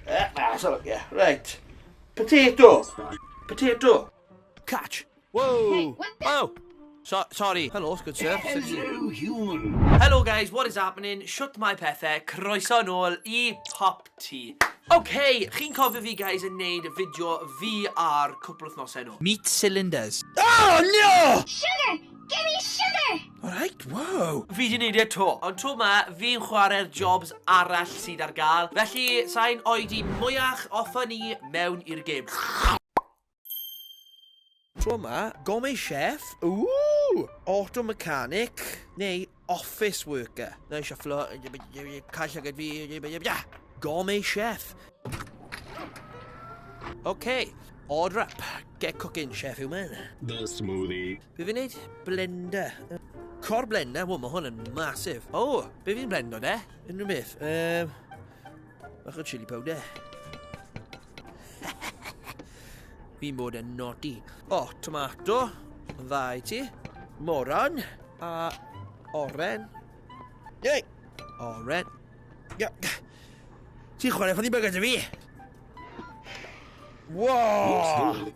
Eh, na, so, ie, yeah, right. Potato. Potato. Catch. Whoa. Hey, what the? Oh. So, sorry. Hello, good sir. Hello, human. Hello, guys. What is happening? Shut my pethau. Croeso yn ôl i Pop Tea. Okay, chi'n cofio fi, guys, yn neud fideo VR cwpl wythnosau nhw. Meat cylinders. Oh, no! Sugar! Give me sugar! Alright, wow! Fi di neud e to, ond to ma fi'n chware'r jobs arall sydd ar gael, felly sain oedi mwyach offa ni mewn i'r gêm. To ma, gome chef, ooh, auto mechanic, neu office worker. Na i shufflo, cael llygad fi, gome chef. Okay, order up, get cooking chef human. The smoothie. Be fi'n neud? Blender. Cor blender? Wel, mae hwn yn masif. O, oh, be fi'n blendo de? Unrhyw beth. Um, bach o chili powder. fi'n bod yn nodi. O, oh, tomato. Dda i ti. Moron. A oren. Yei! Oren. Ti'n chwarae ffynnu bygyd i fi? Wow!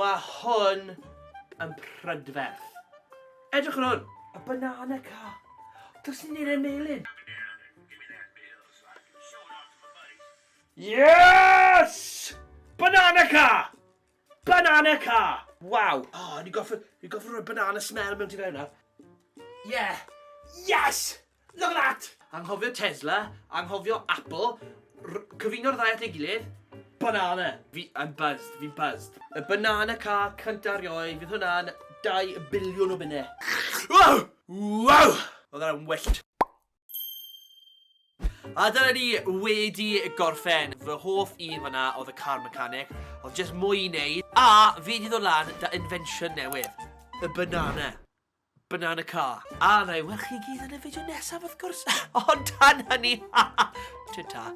Mae hwn yn prydferth. Edrych ar hwn! A banana car. Does ni'n neud e'n melyn. Yes! Banana car! Banana car! Waw! O, oh, ni goffa, ni goffa rhoi banana smell mewn ti fewn nawr. Yeah! Yes! Look at that! Anghofio Tesla, anghofio Apple, r- cyfuno'r ddau at ei gilydd, banana! Fi, I'm buzzed, fi'n buzzed. Y banana car cynta erioed, fydd hwnna'n dau biliwn o bunne. Wow! Wow! Oedd hwnna'n wyllt. A dyna ni wedi gorffen. Fy hoff un fanna oedd y car mechanic. Oedd jyst mwy i wneud. A fi wedi dod lan da invention newydd. Y banana. Banana car. A wna i weld chi gyd yn y fideo nesaf wrth gwrs! Ond tan hynny, ta-ta!